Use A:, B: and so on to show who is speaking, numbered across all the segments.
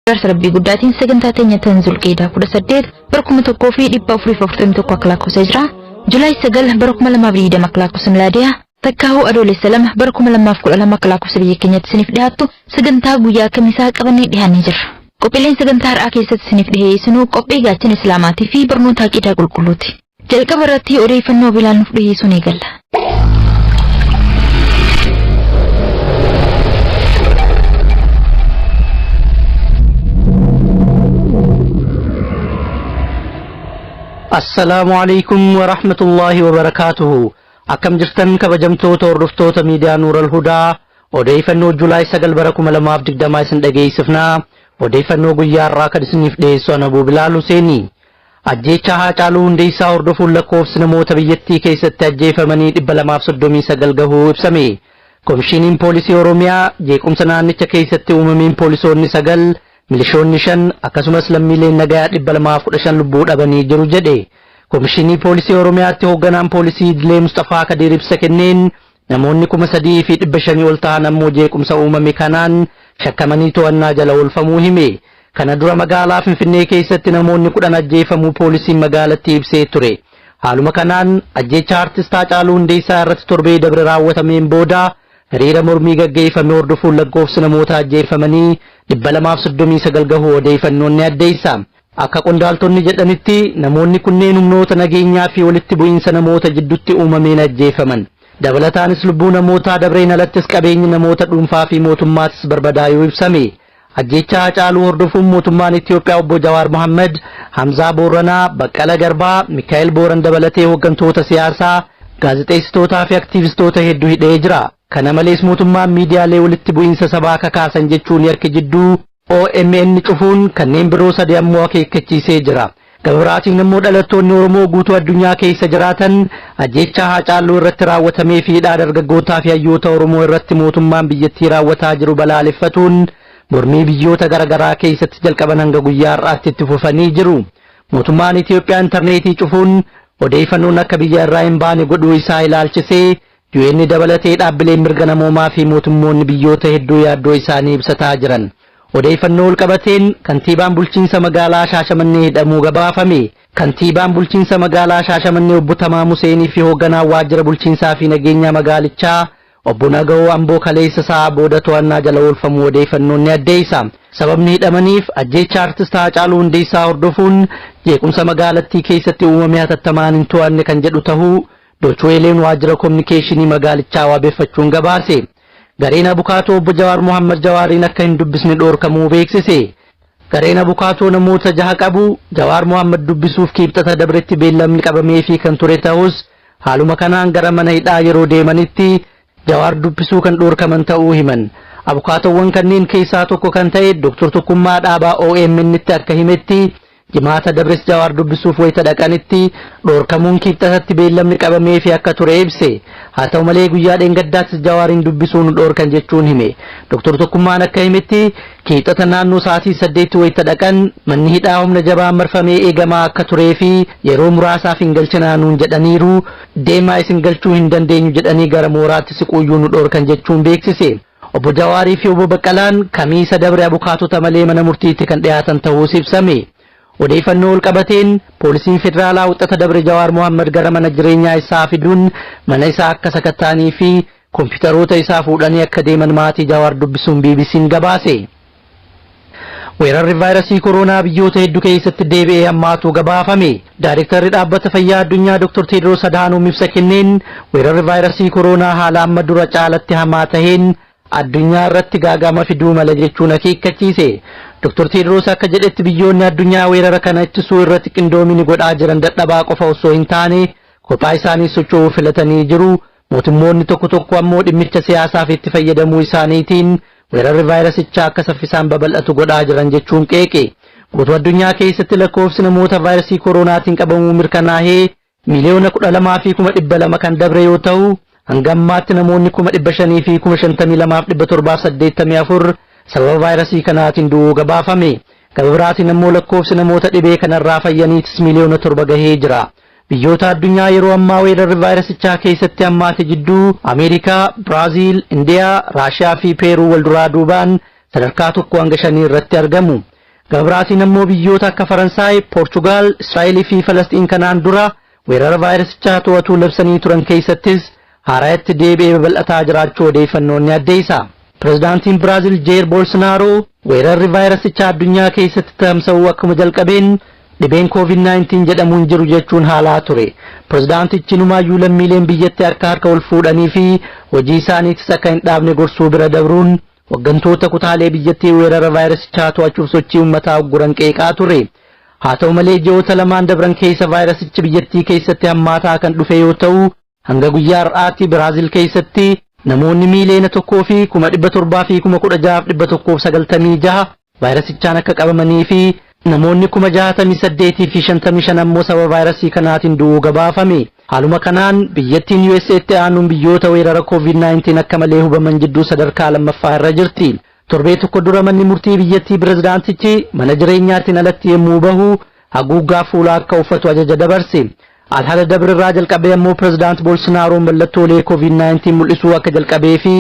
A: Garsa rabbii guddaatiin sagantaa teenya tan zulqeedaa 18 bara 1441 akka lakkoofsa jira. Julaay 9 bara 2020 akka lakkoofsa milaadiyaa takkaahuu adoolessa 2 bara 2012 akka lakkoofsa biyya keenyatti isiniif dhiyaattu sagantaa guyyaa kamisaa qabannee dhiyaannee jirra. Qophiileen sagantaa har'aa keessatti isiniif dhiyeessinuu qophii gaachana islaamaatii fi barnoota aqiidaa qulqulluuti. Jalqaba irratti odeeffannoo Bilaal nuuf dhiheessuun eegalla.
B: Assalaamu alaikum wa rahmatullaahi wa barakaatuhu. Akkam jirtan kabajamtoota hordoftoota miidiyaa Nuural Hudaa odeeffannoo Julaay 9 bara 2020 isin dhageessifna. Odeeffannoo guyyaa har'aa kan isiniif dhiyeessu Anabuu Bilaal Huseeni. Ajjeechaa Haacaaluu Hundeessaa hordofuun lakkoofsi namoota biyyattii keessatti ajjeefamanii 239 gahuu ibsame. Komishiiniin Poolisii Oromiyaa jeequmsa naannicha keessatti uumameen poolisoonni 9, milishoonni 5 akkasumas lammiileen nagayaa 215 lubbuu dhabanii jiru jedhe. Komishinii Poolisii Oromiyaatti Hoogganaan Poolisii Idilee Musxafaa Kadiir ibsa kenneen Namoonni 3,500 ol tahan ammoo jeequmsa uumame kanaan shakkamanii to'annaa jala oolfamuu hime. Kana dura magaalaa Finfinnee keessatti namoonni 10 ajjeefamuu poolisiin magaalattii ibsee ture. Haaluma kanaan ajjeechaa Artist Haacaaluu Hundeessaa irratti torbee dabre raawwatameen booda hiriira mormii gaggeeffame hordofuun lakkoofsi namoota ajjeeffamanii 239 gahuu odeeyfannoon ni addeessa. Akka qondaaltonni jedhanitti, namoonni kunneen humnoota nageenyaa fi walitti bu'iinsa namoota jiddutti uumameen ajjeefaman. Dabalataanis lubbuu namootaa dabreen alattis qabeenyi namoota dhuunfaa fi mootummaatis barbadaayuu ibsame. Ajjeechaa Hacaaluu hordofuun mootummaan Itiyoophiyaa Obbo Jawaar Mohammed, Hamzaa Boorranaa, Baqqala Garbaa, Mikaa'el Booran dabalatee hooggantoota siyaasaa, gaazexeessitootaa fi aktiivistoota heddu hidhee jira. Kana malees mootummaan miidiyaalee walitti bu'iinsa sabaa kakaasan jechuun yakki jidduu Omn cufuun kanneen biroo sadi ammoo akeekkachiisee jira. Gama biraatiin ammoo dhalattoonni Oromoo guutuu addunyaa keessa jiraatan ajjeechaa Haacaaluu irratti raawwatamee fi hidhaa dargaggootaa fi hayyoota Oromoo irratti mootummaan biyyattii raawwataa jiru balaaleffatuun mormii biyyoota gara garaa keessatti jalqaban hanga guyyaa har'aatti itti fufanii jiru. Mootummaan Itiyoophiyaa intarneetii cufuun odeeyfannoon akka biyya irraa hin baane godhuu isaa ilaalchisee UN dabalatee dhaabbileen mirga namoomaa fi mootummoonni biyyoota hedduu yaaddoo isaanii ibsataa jiran. Odeeyfannoo walqabateen Kantiibaan Bulchiinsa Magaalaa Shaashamannee hidhamuu gabaafame. Kantiibaan Bulchiinsa Magaalaa Shaashamannee Obbo Tamaam Huseenii fi Hoogganaan Waajjira Bulchiinsaa fi Nageenyaa Magaalichaa Obbo Nagawoo Amboo kaleessa sa'aa booda to'annaa jala oolfamuu odeeyfannoon ni addeeysa. Sababni hidhamaniif ajjeechaa Artist Haacaaluu Hundeessaa hordofuun jeequmsa magaalattii keessatti uumame hatattamaan hin to'anne kan jedhu tahuu Dochweeleen waajjira kominikeeshinii magaalichaa waabeffachuun gabaase. Gareen abukaatoo obbo Jawaar Mohaammad Jawaariin akka hin dubbisne dhoorkamuu beeksise. Gareen abukaatoo namoota jaha qabu, Jawaar Mohaammad dubbisuuf Kiibxata dabretti beellamni qabameefii kan ture tahus, haaluma kanaan gara mana hidhaa yeroo deemanitti Jawaar dubbisuu kan dhorkaman ta'uu himan. Abukaatoowwan kanneen keessaa tokko kan ta'e Dr. Tokkummaa Dhaabaa OMN'tti akka himetti, Jimaata dabres Jawaar dubbisuuf wayita dhaqanitti dhorkamuun Kibxatatti beellamni qabameefii akka ture ibse. Haa ta'u malee guyyaa dheengaddaattis Jawaariin dubbisuu nu dhorkan jechuun hime. Dr. Tokkummaan akka himetti, Kibxata naannoo sa'aatii saddeetti wayita dhaqan manni hidhaa humna jabaan marfamee eegamaa akka tureefi yeroo muraasaaf hin galchinaa nuun jedhaniiru, Deemaa isin galchuu hin dandeenyu jedhanii gara mooraatti siquuyyuu nu dhoorkan jechuun beeksise. Obbo Jawaarii fi Obbo Baqqalaan Kamiisa dabre abukaatota malee mana murtiitti kan dhiyaatan tahuus ibsame. Odeeyfannoo walqabateen Poolisiin Federaalaa Wixata dabre Jawaar Mohaammad gara mana jireenyaa isaa fiduun mana isaa akka sakatta'anii fi Kompiitaroota isaa fuudhanii akka deeman maatii Jawaar dubbisuun BBC'n gabaase. Weerarri vaayrasii koroonaa biyyoota heddu keessatti deebi'ee hammaatuu gabaafame. Daayrektarri Dhaabbata Fayyaa Addunyaa Dr. Teedroos Adhaanoom ibsa kenneen weerarri vaayrasii koroonaa haala amma dura caalatti hamaa taheen addunyaa irratti gaaga'ama fiduu mala jechuun akeekkachiise. Dr. Teedroos akka jedhetti biyyoonni addunyaa weerara kana ittisuu irratti qindoomini godhaa jiran dadhabaa qofa ossoo hin taane kophaa isaaniis socho'uu filatanii jiru. Mootummoonni tokko tokko ammoo dhimmicha siyaasaaf itti fayyadamuu isaaniitiin weerarri vaayirasichaa akka saffisaan babal'atu godhaa jiran jechuun qeeqe. Guutuu addunyaa keessatti lakkoofsi namoota vaayirasii koroonaatiin qabamuu mirkanaahee miiliyoona 12 fi kuma 200 kan dabre yoo tahu, hanga ammaatti namoonni kuma 500 fi kuma 52 fi 784 sababa vaayirasii kanaatiin du'uu gabaafame. Gama biraatiin ammoo lakkoofsi namoota dhibee kanarraa fayyaniitis miiliyoona 7 gahee jira. Biyyoota addunyaa yeroo ammaa weerarri vaayirasichaa keessatti hammaate jidduu Ameerikaa, Biraaziil, Indiyaa, Raashiyaa fi Peeruu wal duraa duubaan sadarkaa 1 hanga 5 irratti argamu. Gama biraatiin ammoo biyyoota akka Faransaay, Poorchugaal, Israa'el fi Falasxiin kanaan dura weerara vaayirasichaa to'atuu labsanii turan keessattis haarayatti deebi'ee babal'ataa jiraachuu odeeyfannoon ni addeeysa. Prezidaantiin Biraazil Jeer Bolsnaaroo weerarri vaayirasichaa addunyaa keeysatti tamsa'uu akkuma jalqabeen dhibeen Covid 19 jedhamu hin jiru jechuun haalaa ture. Prezidaantichi inumaayyuu lammiileen biyyatti harka harka wal fuudhanii fi hojii isaaniitis akka hin dhaabne gorsuu bira dabruun hoggantoota kutaalee biyyattii weerara vaayirasichaa to'achuuf sochii ummataa ugguran qeeqaa ture. Haa ta'u malee ji'oota lamaan dabran keeysa vaayirasichi biyyattii keeysatti hammaataa kan dhufe yoo ta'u Hanga guyyaa har'aatti Biraazil keessatti namoonni miiliyoona 1 fi kuma 700 fi kuma 16 fi 196 vaayirasichaan akka qabamanii fi namoonni kuma 68 fi 55 ammoo sababa vaayirasii kanaatiin du'uu gabaafame. Haaluma kanaan biyyattiin USA'tti aanuun biyyoota weerara COVID-19 akka malee hubaman jidduu sadarkaa lammaffaa irra jirti. Torbee tokko dura manni murtii biyyattii pirezidaantichi mana jireenyaatiin alatti yommuu bahu haguuggaa fuulaa akka uffatu ajaja dabarse. Alhada dabre irraa jalqabee ammoo pirezidaant Bolsonaaroon mallattoolee COVID-19 mul'isuu akka jalqabee fi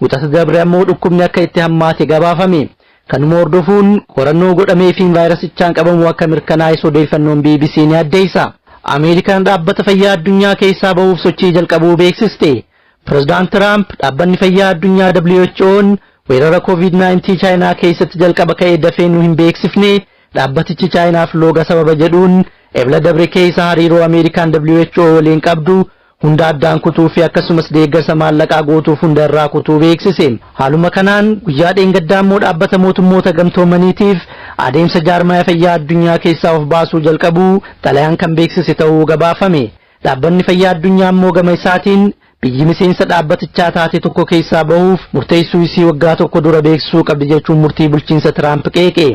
B: wixata dabre ammoo dhukkubni akka itti hammaate gabaafame. Kanuma hordofuun qorannoo godhameefiin vaayirasichaan qabamuu akka mirkanaa'es odeeffannoon BBC ni addeessa. Ameerikaan dhaabbata fayyaa addunyaa keessaa bahuuf sochii jalqabuu beeksiste. Pirezidaant Tiraamp Dhaabbanni Fayyaa Addunyaa WHO'n weerara Covid 19 Chaayinaa keessatti jalqaba ka'e dafee nu hin beeksifne, dhaabbatichi Chaayinaaf looga sababa jedhuun Ebla dabre keessa hariiroo Ameerikaan WHO waliin qabdu hunda addaan kutuu fi akkasumas deeggarsa maallaqaa gootuuf hunda irraa kutuu beeksise. Haaluma kanaan guyyaa dheengaddaa immoo Dhaabbata Mootummoota Gamtoomaniitiif adeemsa jaarmaya fayyaa addunyaa keessaa of baasuu jalqabuu xalayaan kan beeksise ta'uu gabaafame. Dhaabbanni Fayyaa Addunyaa ammoo gama isaatiin biyyi miseensa dhaabbatichaa taate tokko keessaa bahuuf murteessuu isii waggaa tokko dura beeksisuu qabdi jechuun murtii bulchiinsa Tiraamp qeeqe.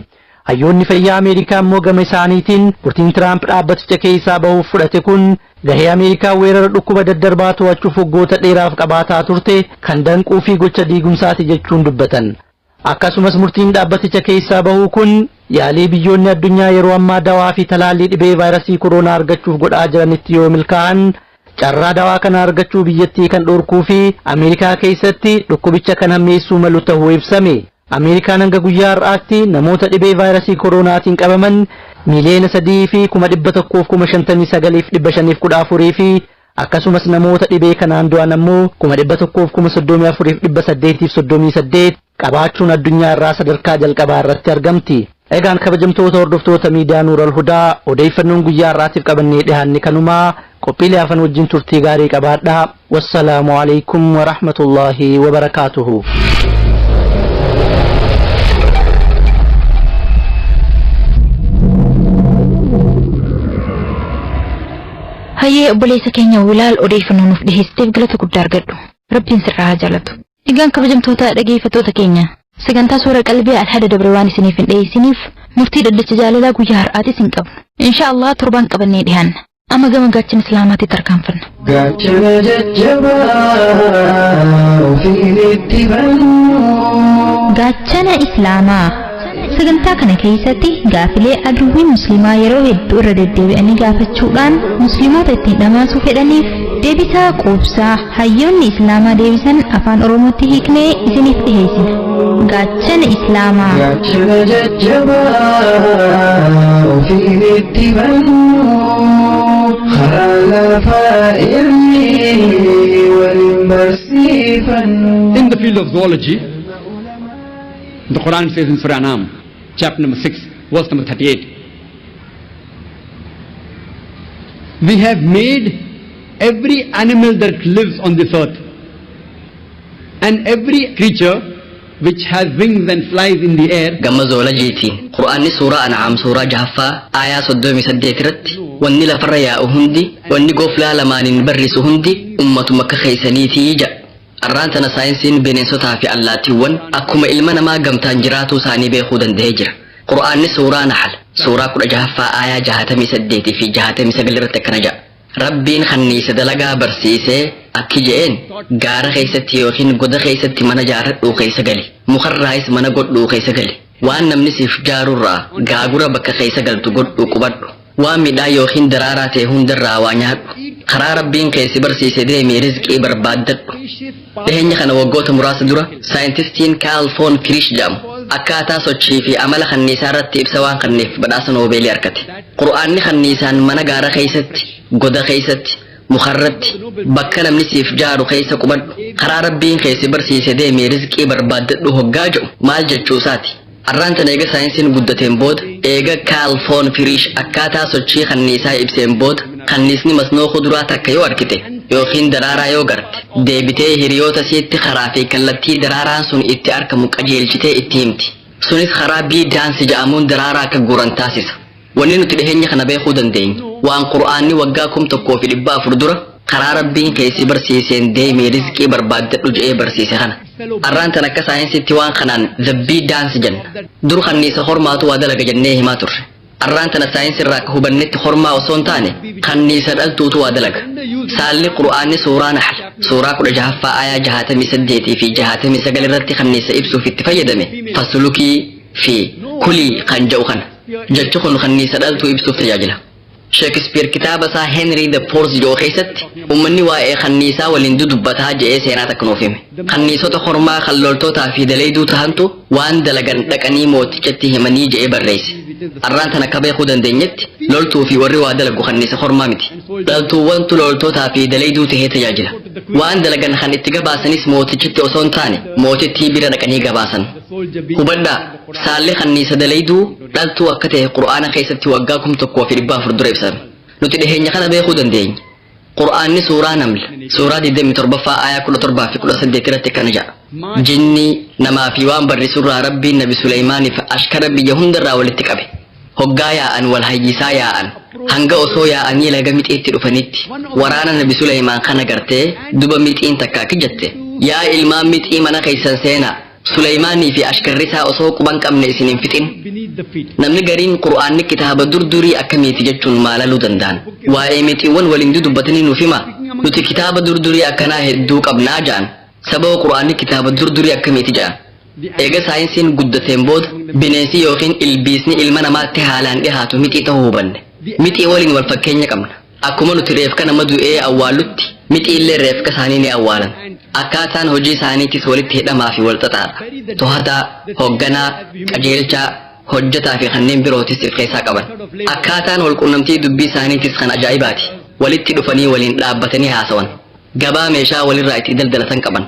B: Hayyoonni fayyaa Ameerikaa ammoo gama isaaniitiin murtiin Tiraamp dhaabbaticha keessaa bahuuf fudhate kun gahee Ameerikaa weerara dhukkuba daddarbaa to'achuuf waggoota dheeraaf qabaataa turte kan danquu fi gocha diigumsaati jechuun dubbatan. Akkasumas murtiin dhaabbaticha keessaa bahuu kun yaalii biyyoonni addunyaa yeroo ammaa dawaa fi talaallii dhibee vaayrasii koroonaa argachuuf godhaa jiranitti yoo milkaa'an carraa dawaa kana argachuu biyyattii kan dhorkuu fi Ameerikaa keessatti dhukkubicha kan hammeessuu malu tahuu ibsame. Ameerikaan hanga guyyaa har'aatti namoota dhibee vaayrasii koroonaatiin qabaman miiliyoona 3 fi kuma 100 fi kuma 59 fi 514 fi Akkasumas namoota dhibee kanaan du'an ammoo kuma 100f kuma 34f 838 qabaachuun addunyaa irraa sadarkaa jalqabaa irratti argamti. Egaan kabajamtoota hordoftoota miidiyaa Nuural Hudaa odeeyfannoon guyyaa har'aatiif qabannee dhihaanne kanuma. Qophiilee hafan wajjin turtii gaarii qabaadhaa. Wassalaamu aleykum wa rahmatullaahi wa barakaatuhu.
A: Hayyee obboleessa keenya Wilaal odeeyfannoo nuuf dhiheessiteef galata guddaa argadhu. Rabbiin sirraa haa jaalatu. Egaan kabajamtoota dhageeyfattoota keenya sagantaa soora qalbii Alhada dabre waan isiniif hin dhiheeysiniif murtii dhaddacha jaalalaa guyyaa har'aatiis hin qabnu. Inshaa Allaah torbaan qabannee dhihaanna. Amma gama gaachana Islaamaatti tarkaanfanna. Gaachana
C: jajjabaa ofiin itti bannu.
D: Gaachana Islaamaa. Sagantaa kana keessatti gaafilee aduwwiin musliimaa yeroo hedduu irra deddeebi'anii gaafachuudhaan musliimoota ittiin dhamaasuu fedhaniif deebisaa quubsaa hayyoonni islaamaa deebisan afaan oromootti hiiknee isiniif dhiheessina. Gaachana islaamaa. Gaachana
C: jajjabaa ofiin itti bannu karaa lafaa irri waliin barsiifannu. In the field of
E: zoology, The Quran says in Surah Anam, chapter number 6, verse number 38. We have made every animal that lives on this earth and every creature which has wings and flies in the air gamma zoolajiiti
F: qur'aanni suuraa an'aam suuraa jahaffaa aayaa soddomii saddeet irratti wanni lafarra yaa'u hundi wanni goflaa lamaaniin barrisu hundi ummatuma akka keessaniitii jedha Arraan tana saayinsiin bineensotaa fi allaattiiwwan akkuma ilma namaa gamtaan jiraatuu isaanii beekuu danda'ee jira. Qur'aanni suuraa Nahl, suuraa 16ffaa aayaa 68 fi 69 irratti akkana jedha. Rabbiin kanniisa dalagaa barsiisee akki je'een, Gaara keessatti yookiin goda keessatti mana jaarradhuu keessa gali. Mukarraayis mana godhuu keessa gali. Waan namni siif jaarurraa gaagura bakka keessa galtu godhuu qubadhu. Waan midhaan ykn daraaraa ta'e hundarraa waa nyaadhu. Karaa Rabbiin kee si barsiise deemii rizqii barbaaddadhu. Dhiheenya kana waggoota muraasa dura saayintistiin Kaal Foon Kiriish jedhamu akkaataa sochii fi amala kanniisaa irratti ibsa waan kanneef badhaasa Noobeelii arkate. Qur'aanni kanniisaan mana gaara keessatti, goda keessatti, mukarratti bakka namni siif jaaru keessa qubadhu karaa rabbiin kee si barsiise deemii rizqii barbaaddadhu hoggaa jedhu maal jechuu isaati arraan tan eega saayinsiin guddateen booda eega kaalfoon firiish akkaataa sochii kanniisaa ibseen booda kanniisni masnoo kuduraa takka yoo argite yookiin daraaraa yoo garte deebitee hiriyoota siitti karaa fi kallattii daraaraan sun itti argamu qajeelchitee itti himti sunis karaa bii daansi ja'amuun daraaraa akka guuran taasisa Wanni nuti dhiheenya kana beekuu dandeenyu, waan Qur'aanni waggaa kum tokkoo fi dhibba afur dura karaa Rabbiin kee si barsiiseen deemii rizqii barbaaddadhu je'ee barsiise kana. Arraan tan akka saayinsiitti waan kanaan the bee dance jenna. Dur kanniisa hormaatu waa dalaga jennee himaa turre. Arraan tana saayinsirraa akka hubannetti hormaa osoo hin taane kanniisa dhaltuutu waa dalaga. Saalli Qur'aanni suuraa Nahl suuraa kudha jahaffaa aayaa jahaatamii saddeetii fi jahaatamii sagal irratti kanniisa ibsuuf itti fayyadame fasulukii fi kulii kan ja'u kana. Jechi kun kanniisa dhaltuu ibsuuf tajaajila. Sheekispiir kitaaba isaa Henry the Fourth jedhu keessatti uummanni waa'ee kanniisaa waliin dudubbataa je'ee seenaa takka nuuf hime. Kanniisota kormaa kan loltootaa fi daleeyduu tahantu waan dalagan dhaqanii mootichatti himanii je'ee barreesse. Arraan tan akka beekuu dandeenyetti loltuu fi warri waa dalagu kanniisa kormaa miti. Dhaltuuwwantu loltootaa fi daleeyduu tahee tajaajila. Waan dalagan kan itti gabaasanis mootichatti osoo hin taane mootittii bira dhaqanii gabaasan. Hubadhaa, saalli kanniisa dalayduu dhaltuu akka ta'e Qur'aana keessatti waggaa kum tokkoo fi dhibba afur dura ibsame. Nuti dhiheenya kana beekuu dandeenya. Qur'aanni suuraa Naml, suuraa 27ffaa aayaa 17 fi 18 irratti akkana jedha. Jinni, namaa fi waan barrisurraa Rabbiin Nabi Suleymaaniif ashkara biyya hundarraa walitti qabe. Hoggaa yaa'an wal hayyisaa yaa'an, hanga osoo yaa'anii laga Mixiitti dhufanitti, waraana nabi Sulaymaan kana gartee, duba Mixiin takka akki jette, Yaa ilmaan Mixii mana keessan seenaa, Sulaymaanii fi ashkarri isaa osoo quban qabne isin hin fixin. Namni gariin Qur'aanni kitaaba dur durii akkamiiti jechuun maalaluu danda'an. Waa'ee Mixiiwwan waliin dudubbatanii nuuf himaa? Nuti kitaaba dur durii akkanaa hedduu qabnaa ja'an. Sababa Qur'aanni kitaaba dur durii akkamiiti ja'an. Eega saayinsiin guddateen booda bineensi ykn ilbiisni ilma namaatti haalaan dhihaatu mixii tahuu hubanne. Mixii waliin wal fakkeenya qabna. Akkuma nuti reefka nama du'ee awwaallutti mixiillee reefka isaanii ni awwaalan. Akkaataan hojii isaaniitis walitti hidhamaa fi wal xaxaadha. Tohataa, hogganaa, qajeelchaa, hojjataa fi kanneen birootis if keessaa qaban. Akkaataan wal qunnamtii dubbii isaaniitis kan ajaa'ibaati. Walitti dhufanii waliin dhaabbatanii haasawan. Gabaa meeshaa walirraa itti daldalatan qaban.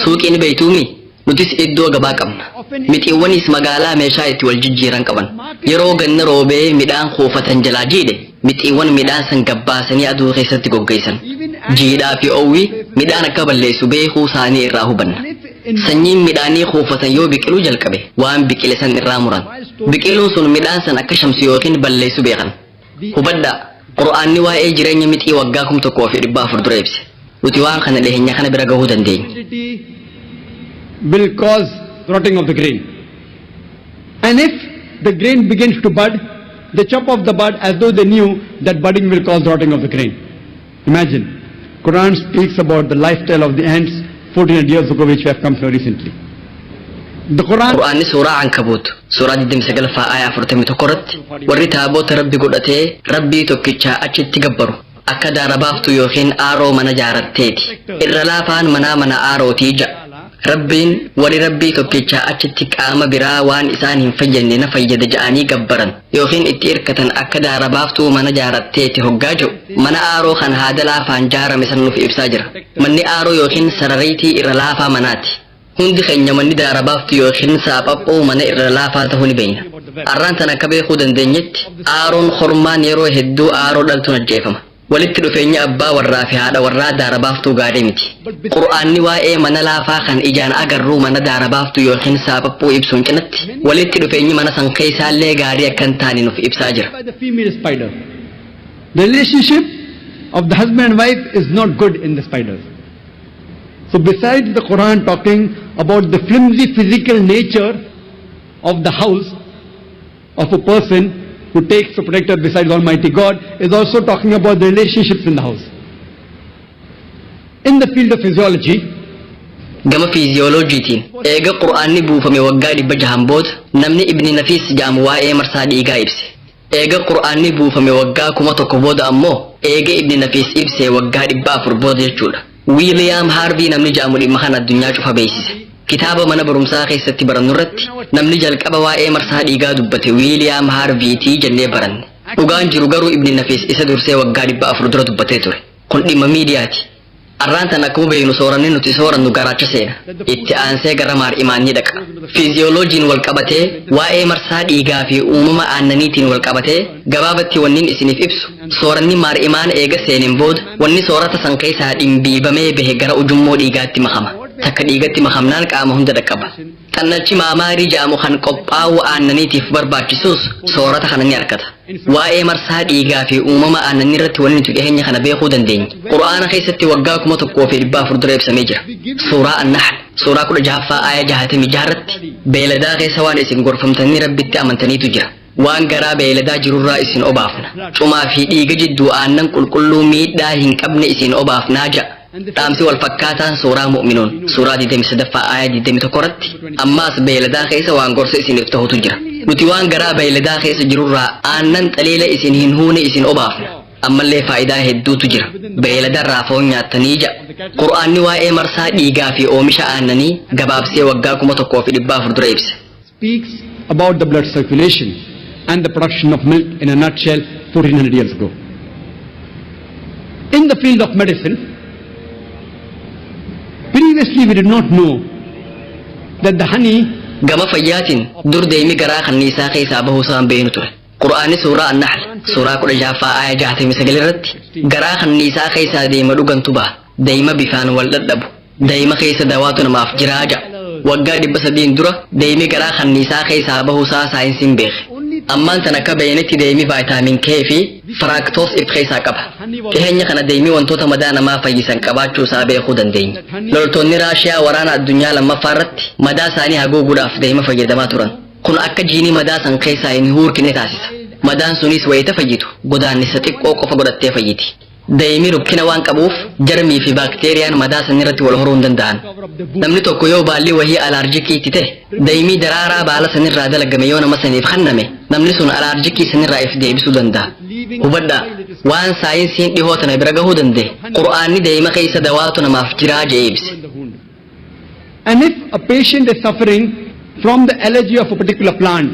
F: Suuqii ni beektuumii? Nutis iddoo gabaa qabna. Mixiiwwaniis magaalaa meeshaa itti wal jijjiiran qaban. Yeroo ganna roobee midhaan kuufatan jalaa jiidhe, mixiiwwan midhaan san gabbaasanii aduu keessatti goggeessan. Jiidhaa fi oowwi midhaan akka balleessu beekuu saanii irraa hubanna. Sanyiin midhaanii kuufatan yoo biqiluu jalqabe waan biqile san irraa muran. Biqiluun sun midhaan san akka shamsu ykn balleessu beekan. Hubadhaa, Qur'aanni waa'ee jireenya mixii waggaa 1400 dura ibse. Nuti waan kana dhiheenya kana bira gahuu dandeenya. humidity
E: will cause rotting of the grain. And if the grain begins to bud, they chop off the bud as though they knew that budding will cause rotting of the grain. Imagine, Quran speaks about the lifestyle of the ants 1400 years ago which we have come to know recently. The Quran Qur'aanni suuraa
F: Ankabuut suuraa 29 faa aayaa 41 irratti warri taaboota rabbi godhatee rabbii tokkichaa achitti gabbaru akka daara baaftu yookiin aaroo mana jaaratteeti irra laafaan manaa mana aarootii ja'a Rabbiin warri Rabbii tokkichaa achitti qaama biraa waan isaan hin fayyadne na fayyada ja'anii gabbaran yookiin itti irkatan akka daara baaftuu mana jaaratteeti hoggaa jiru mana aaroo kan haada laafaan jaarame san nuuf ibsaa jira. Manni aaroo yookiin sarariitii irra laafaa manaati. Hundi keenya manni daara baaftuu yookiin saaphaphoo mana irra laafaa ta'uu ni beekna. Arraan tan akka beekuu dandeenyetti aaroon kormaan yeroo hedduu aaroo dhaltuun ajjeefama. Walitti dhufeenyi abbaa warraa fi haadha warraa daara baaftuu gaarii miti. Qur'aanni waa'ee mana laafaa kan ijaan agarruu mana daara baaftuu yookiin saapaphuu ibsuun cinatti, walitti dhufeenyi mana san keessaallee gaarii akka hin taane nuf ibsaa jira. by the female spider.
E: The relationship of the husband and wife is not good in the spiders. So besides the Quran talking about the flimsy physical nature of the house, of a person who takes a protector besides Almighty God is also talking about the relationships in the house. In the field of physiology, gama
F: fiiziyooloojiitiin eega qur'aanni buufame waggaa dhibba jahan booda namni ibni nafiis jaamu waa'ee marsaa dhiigaa ibse eega qur'aanni buufame waggaa kuma tokko booda ammoo eega ibni nafiis ibse waggaa dhibba afur booda jechuudha Wiiliyaam Haarvii namni ja'amu dhimma kana addunyaa cufa beeksise. Kitaaba mana barumsaa keessatti barannu irratti namni jalqaba waa'ee marsaa dhiigaa dubbate Wiiliyaam Haarviitii jennee baranne. Dhugaan jiru garuu Ibni Nafiis isa dursee waggaa dhibba afur dura dubbatee ture. Kun dhimma miidiyaati. Arraan tan akkuma beeknu sooranni nuti soorannu garaacha seena. Itti aansee gara maar'imaan ni dhaqa. Fiiziyooloojiin wal qabatee waa'ee marsaa dhiigaa fi uumama aannaniitiin wal qabatee gabaabatti wanniin isiniif ibsu Sooranni maar'imaan eega seeneen booda wanni soorata san keessaa dhimbiibamee bahe gara ujummoo dhiigaatti makama. Takka dhiigatti makamnaan qaama hunda dhaqqaba. Xannalchi maamaarii ja'amu kan qophaawuu aannaniitiif barbaachisuus soorata kana ni arkata. Waa'ee marsaa dhiigaa fi uumama aannanniirratti wanni nuti dhiheenya kana beekuu dandeenye Qur'aana keessatti waggaa 1400 dura ibsamee jira. Suuraa An-Nahl suuraa 16ffaa aaya 66 irratti beeladaa keessa waan isin gorfamtanii Rabbitti amantaniitu jira. Waan garaa beeyladaa jirurraa isin obaafna. Cumaa fi dhiiga jidduu aannan qulqulluu miidhaa hin qabne isin obaafnaa ja'a. Dhaamsi wal fakkaataan suuraa Mu'minuun suuraa 23ffaa aaya 21 irratti ammaas beeyladaa keessa waan gorsa isiniif tahutu jira. Nuti waan garaa beeyladaa keessa jirurraa aannan xaliila isin hin huune isin obaafna. Ammallee faayidaa hedduutu jira. Beeyladarraa foon nyaattanii ja'a. Qur'aanni waa'ee marsaa dhiigaa fi oomisha aannanii gabaabsee waggaa kuma tokkoo fi dhibbaa afur dura ibse. speaks
E: about the blood circulation and the production of milk in a nutshell 1400 years ago. In the field of medicine, previously we did not know that the honey gama fayyaatiin
F: dur deemi garaa kanniisaa keessaa bahuu isaan beeknu ture qur'aanni suuraa annahl suuraa kudha jahaffaa aaya jaatamii sagal irratti garaa kanniisaa keessaa deema dhugantu baha deema bifaan wal dhadhabu Dayima keessa dawaatu namaaf jiraa ja'a. Waggaa dhibba sadiin dura dayimi garaa kanniisaa keessaa bahuusaa saayinsiin beeke. Ammaan tan akka beeynetti dayimi vaayitaamin K fi firaaktoos if keessaa qaba. Dhiheenya kana dayimi wantoota madaa namaa fayyisan qabaachuu isaa beekuu dandeenya. Loltoonni Raashiyaa waraana addunyaa lammaffaa irratti madaa isaanii haguuguudhaaf dayima fayyadamaa turan. Kun akka jiinii madaa san keessaa hin huurkine taasisa. Madaan sunis wayita fayyitu godaannisa xiqqoo qofa godhattee fayyiti. Daa'imi rukkina waan qabuuf jarmii fi baakteeriyaan madaa sanii irratti wal horuu hin danda'an. Namni tokko yoo baalli wahii alaarjikii itti ta'e, daa'imii daraaraa baala sanirraa dalagame yoo nama saniif kenname, namni sun alaarjikii sanirraa if deebisuu danda'a. Hubadhaa, waan saayinsiin dhihoo tana bira gahuu danda'e, Qur'aanni daa'ima keessa dawaatu namaaf jiraa jedhee ibse.
E: And if a patient is suffering from the allergy of a particular plant,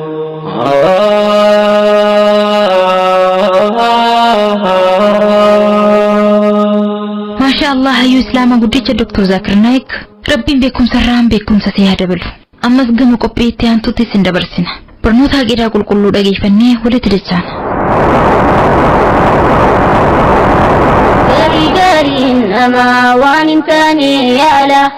D: maashaa allah hayyuu islaamaa guddicha doktor zaakir naayik rabbiin beekumsa irraan beekumsa si haa dabalu ammas gama qophii itti aantutti isin dabarsina barnoota haqeedaa qulqulluu dhageeffannee walitti dachaana gaarii gaariin namaa
G: waan hin taane yaala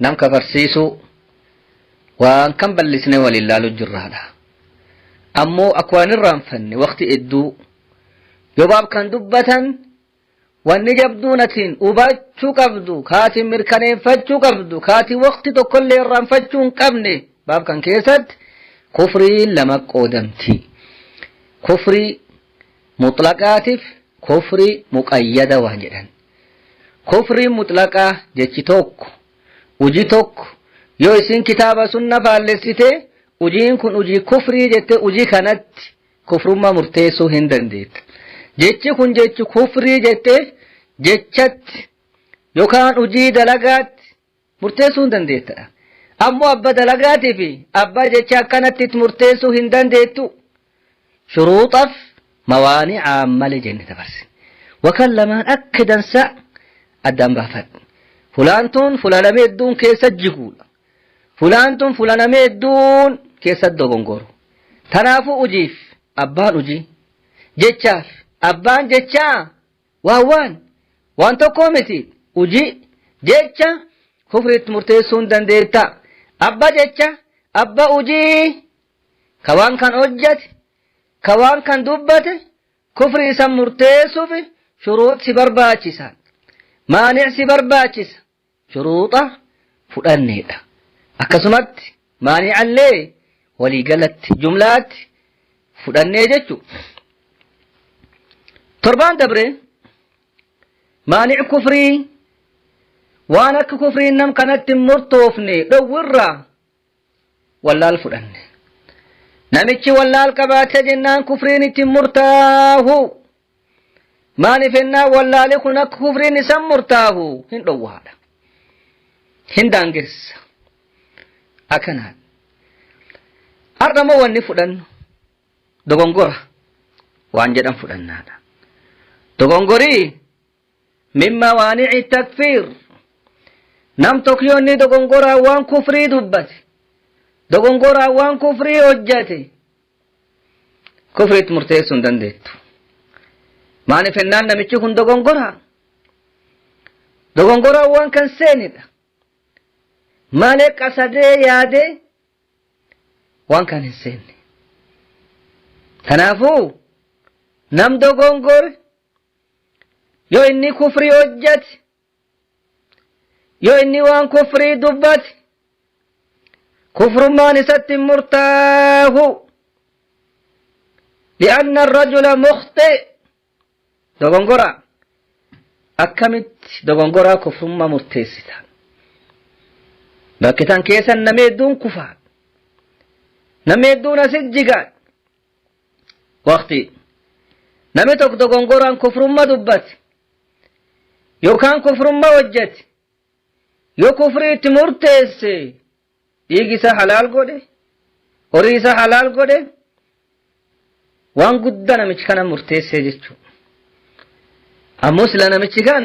H: nam kafarsiisuu waan kan ballisnee waliin laalu jirraadha ammoo akka waan irraanfanne waqti hedduu yobaab kan dubbatan wanni jabduun atiin hubachuu qabdu kaatiin mirkaneeffachuu qabdu kaatiin waqti tokkollee irraanfachuu hin qabne baab kan keessatti kufriin lama qoodamti kufrii
I: muxlaqaatiif kufrii muqayyada waan jedhan Kufriin mutlaqaa jechi tokko, uji tokko yoo isin kitaaba sunna faallessite ujiin kun ujii kufrii jette uji kanatti kufrummaa murteessuu hin dandeetta. Jechi kun jechi kufrii jette jechatti yookaan ujii dalagaatti murteessuu hin dandeetta. Ammoo abba dalagaatii fi abbaa jecha akkanatti itti murteessuu hin dandeettu. Shuruuxaf mawaani'aan malee jenne dabarse. Wakan lamaan akka dansa addaan baafadhu. Fulaan tun fula namee hedduun keessa jiguudha. Fulaan tun fula namee hedduun keessa dogongoru. Tanaafuu ujiif abbaan ujii. Jechaaf abbaan jechaa Waan waan waan tokkoo miti hojii jecha kufriitti murteessuun dandeetta. Abba jecha abba hojii ka waan kan hojjate ka waan kan dubbate kufrii san murteessuuf shuruut si barbaachisa. Maanic si barbaachisa. shuruuxa fudhanneedha. Akkasumatti maani'allee waliigalatti, jumlaatti fudhannee jechu. Torbaan dabre maani'i kufrii waan akka kufriin nam kanatti hin murtoofne dhowwirraa wallaal fudhanne namichi wallaal qabaate jennaan kufriin itti murtaahu maaliif ennaa wallaali kun akka kufriin isan murtaahu hin dhowwaadha hin daangessa akkanaan har'a moo wanni fudhannu dogongora waan jedhan fudhannaadha dogongorii min mawaanici takfiir nam tokkiyonni dogongoraan waan kufrii dubbate dogongoraan waan kufrii hojjate kufriitti murteessuu hin dandeettu maaliif hennaan namichi kun dogongoraa dogongoraan waan kan seenidha malee qasadee yaadee waan kan hin seenne kanaafuu nam dogongore yoo inni kufrii hojjate yoo inni waan kufrii dubbate kufrummaan isatti hin murtaahu li'anna rajula mukhxi dogongora akkamitti dogongoraa kufrummaa murteessita bakki tan keessan namni hedduun kufaa namni hedduun asit jigaan waqtii namni tokko dogongoraan kufrumma dubbate yookaan kufrumma hojjete yoo kufrii itti murteesse dhiigi isaa halaal godhe horii isaa halaal godhe waan guddaa namichi kana murteessee jechuudha. Ammoo sila namichi kan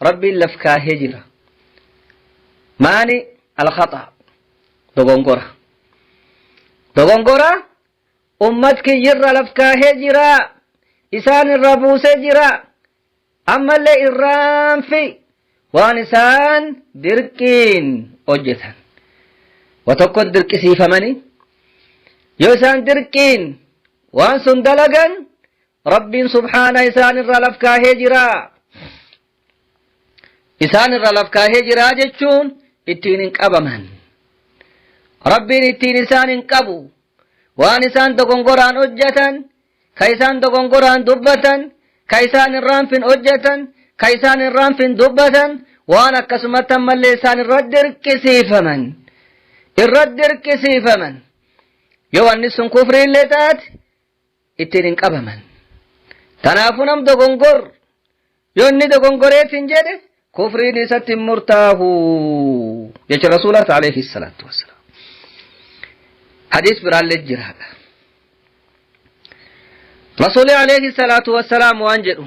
I: Rabbiin laf kaahee jira. Maani alkhaxaa dogongora. Dogongora ummat kiyyirra laf kaahee jira. Isaan irraa buusee jira. Ammallee irraanfi waan isaan dirqiin hojjetan. Wa tokkon dirqisiifamanii yoo isaan dirqiin waan sun dalagan Rabbiin subhaana isaan irra laf kaahee jira. Isaan irra laf kaahee jira jechuun ittiin hin qabaman. Rabbiin ittiin isaan hin qabu. Waan isaan dogongoraan hojjetan, ka isaan dogongoraan dubbatan, ka isaan hin raanfin hojjetan, ka isaan hin raanfin dubbatan, waan akkasumatti ammallee isaan irra dirqisiifaman. Irra dirqisiifaman. Yoo wanni sun kufriillee taate, ittiin hin qabaman. Kanaafuu nam dogongor yoo inni dogongoree sin jedhe kufriin isatti hin murtaahu jecha rasuulaati alayhi salaatu wassalaam. Hadiis biraallee jiraadha. Rasuulli alayhi salaatu wassalaam waan jedhu.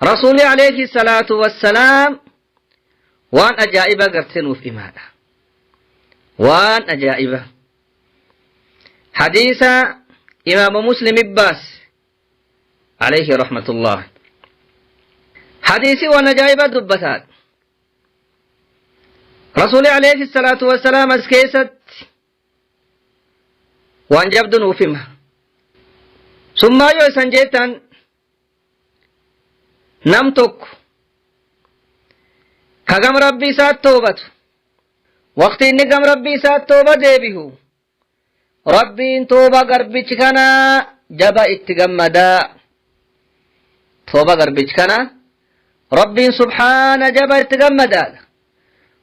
I: Rasuulli alayhi salaatu wassalaam waan ajaa'iba gartee nuuf imaadha. Waan ajaa'iba. Hadiisa imaama muslim ibbaas alayhi rahmatullah. Hadiisi waan ajaa'iba dubbataadha. Rasuulli alayhi salaatu wassalaam as keessatti waan jabdu nuuf hima summaa yoo isan jeettan nam tokko ka gam rabbii isaat toobatu waqti inni gam rabbii isaat tooba deebihu rabbiin tooba garbichi kana jaba itti gammadaa tooba garbichi kana Rabbiin subhaana jaba itti gammadaadha.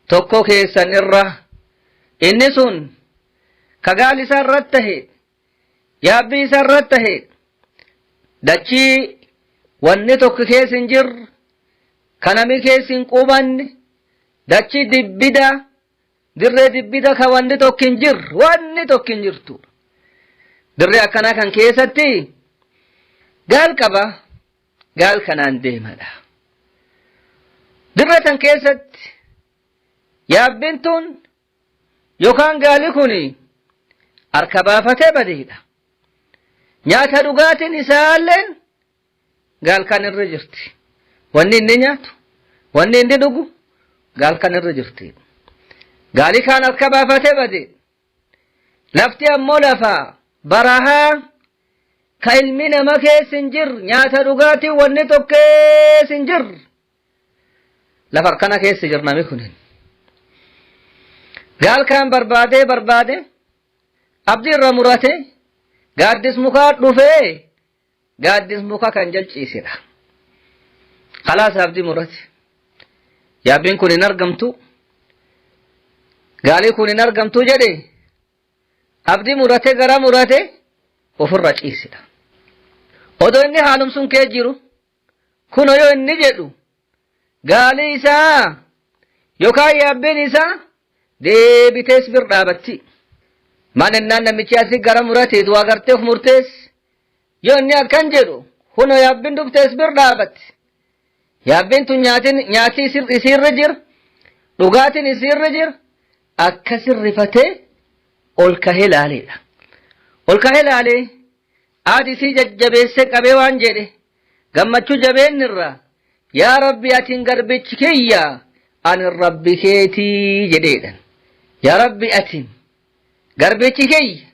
I: Tokko keessan irra inni sun ka gaal isaa irratti tahe yaabbii isaa irratti tahe dachii wanni tokko keessa hin jirre ka nami keessa hin qubanne dachii dibbida dirree dibbida ka wanni tokko hin jirre wanni tokko hin jirtu dirree akkanaa kan keessatti gaal qaba gaal kanaan deemadha. Dirra tan keessatti yaabbiin tun yookaan gaali kun harka baafatee badeedha. Nyaata dhugaatiin isaallee gaal kan irra jirti. Wanni inni nyaatu, wanni inni dhugu gaal kan irra jirti. Gaali kaan harka baafatee bade lafti ammoo lafa barahaa ka ilmi nama keessa hin jirre nyaata dhugaatii wanni tokko keessa hin jirre lafa akkana keessa jirra namni kunin gaal kaan barbaadee barbaade abdii irra murate gaaddis mukaa dhufee gaaddis muka kan jalciisedha kalaas abdii murate yaabbiin kun hin argamtu gaalii kun hin argamtu jedhe abdii murate gara murate ofirra ciisedha odoo inni haalumsun kee jiru kuno yoo inni jedhu gaalii isaa yookaan yaabbeen isaa deebitees bir dhaabatti. Maal ennaan namichi asi gara murateetu waa garteef murtees yoo inni akkan jedhu kunoo yaabbin dhuftees bir dhaabatti. Yaabbin tun nyaatin nyaati isiirra jir dhugaatin isiirra jir akkasin rifatee ol kahee laaleedha. Ol kahee laalee. Aad isii jajjabeessee qabee waan jedhe, gammachuu jabeenni irraa, Yaa Rabbi atin garbichi kiyya, anin Rabbi keeti jedheedhan. Yaa Rabbi atin garbichi kiyya,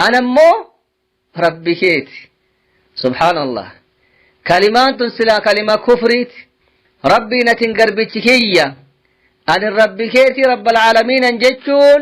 I: an ammoo Rabbi keeti. Subhaanallah. Kalimaan tun silaa kalima kufriiti. Rabbiin atin garbichi kiyya, anin Rabbi keeti Rabbal Aalamiinan jechuun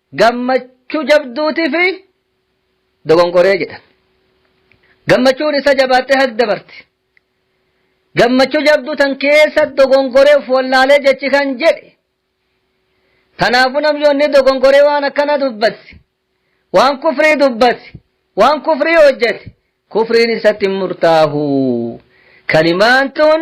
I: gammachuu jabduutiif dogonqoree jedhan. Gammachuun isa jabaattee hak dabarti. Gammachuu jabduu tan keessa dogonqoree of wallaalee jechi kan jedhe. Kanaafuu namni onni dogonqoree waan akkana dubbate. Waan kufrii dubbate. Waan kufrii hojjete. Kufriin isatti hin murtaahu. Kalimaan tun